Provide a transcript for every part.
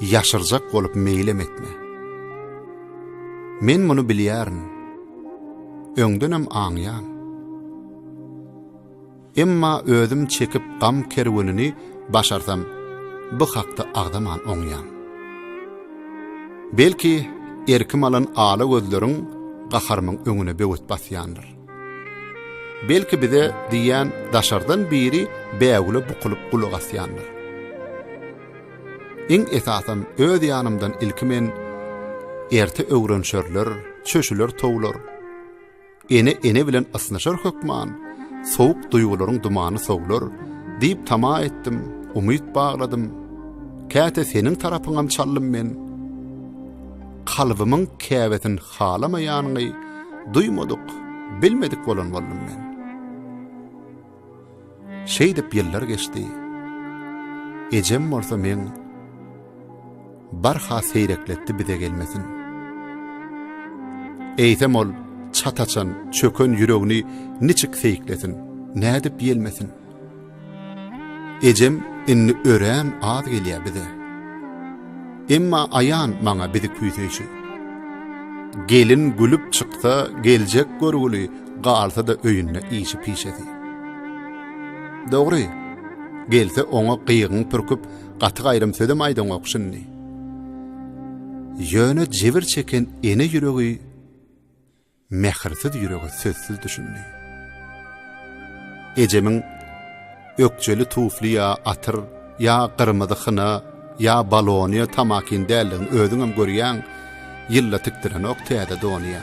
Ýaşyrjak bolup meýlem etme. Men muny bilýärin. Öňdenem aňýan. Emma özüm çekip gam kerwenini başarsam, bu hakda agzaman oňýan. Belki, erkim alan ala gözleriň gaharymyň öňüne böwet basýandyr. Belki bize diýýän daşardan biri bägüle bukulyp gulak asýandyr. Iň esasam öz ýanymdan ilki men erte öwrenşerler, çöşüler towlar. Ene ene bilen ysnyşar hökman, sowuk duýgularyň dumany sowlar diýip tama etdim, umyt bagladym. Käte seniň tarapyňam çaldym men. Kalbymyň käbetin halamaýanyňy duýmadyk, bilmedik bolan boldum men. Şeýdip ýyllar geçdi. Ejem bolsa men barha seýrekletdi bize gelmesin. Eýsem ol çataçan, çöken ýüregini niçik seýiklesin, nädip ýelmesin? Ejem indi örän az gelýär bize. Emma aýan maňa bizi küýseýşi. Gelin gülüp çyksa, geljek görgüli, galsa-da öýünde işi-pişesi. Dogry, gelse oňa gygyň pürküp, gaty gaýrym sözem aýdaňok şindi. Ýöne jebir çeken ene ýüregi mähirsiz ýürege sözsüz düşündi. Ejemiň ökjeli tufli ýa atyr, ýa gyrmyzy hyna, ýa balonyýa tamakin däldigini özüňem görýäň, ýylla tikdirenok täze donyýa.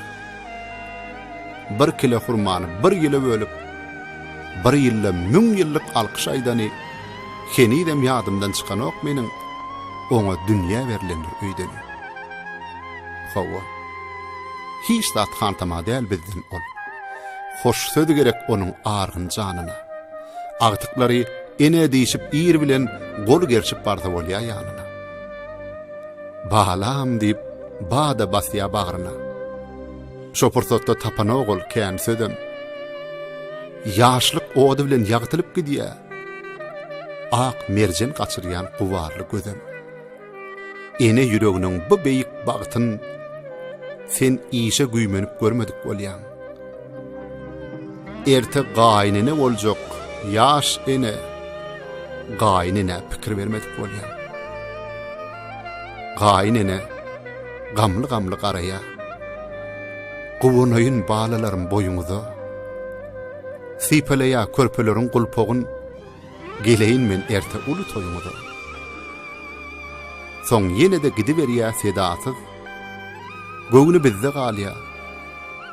Bir kile hurmany bir ýyla bölüp, bir ýylda müň ýyllyk alkyş aýdany henizem ýadymdan çykanok meniň, oňa dünýä berlendir öýdeni. Hawa. Hiç zat hantama däl bizden ol. Hoş söz gerek onuň argyn janyna. Agtyklary ene diýşip ir bilen gol gerşip barsa bolýa ýanyna. Balam diýip bada basýa bagryna. Şo pursatda tapanok ol kän sözem. Ýaşlyk ody bilen ýagtylyp gidýä. Ak merjen gaçyrýan gubarly gözem. Ene ýüreginiň bu beýik bagtyn sen işe güýmenip görmedik bolýaň. Erte gaýynene boljak ýaş ene gaýynene pikir bermedik bolýaň. Gaýynene gamly-gamly garaýa. Guwanaýyn balalarym boýuňyza. Sypalaýa körpeleriň gulpagyn. Geleýin men erte uly toýuňyza. Soň ýene-de gidiberýä sedasyz, Göwni bizde galýa,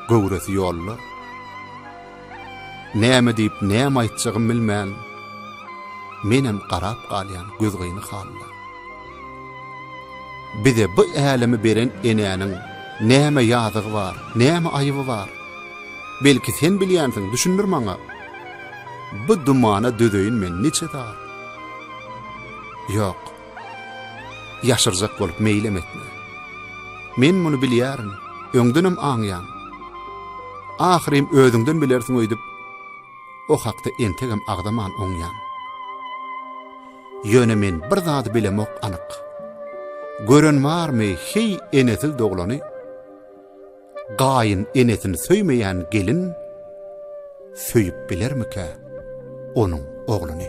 göwresi ýolda. Näme diýip, näme aýtjagym bilmän, Menem garap galýan gözgyny halla. Bize bu älemi beren enäniň Näme ýazygy bar, näme aýyby bar? Belki sen bilýänsiň, düşündir maňa. Bu dumana dözeýin men niçe zat. Ýok. Ýaşyrjak bolup meýlem etme. Men muny bilýärin, öňdenem aňýan. Ahyrym özüňden bilersiň öýdüp, o hakda entegem agzaman oňýan. Ýöne men bir zady bilemok anyk. Gören barmy, heý, enesiz doglany? Gaýyn enesini söýmeýän gelin söýüp bilermikä onuň ogluny?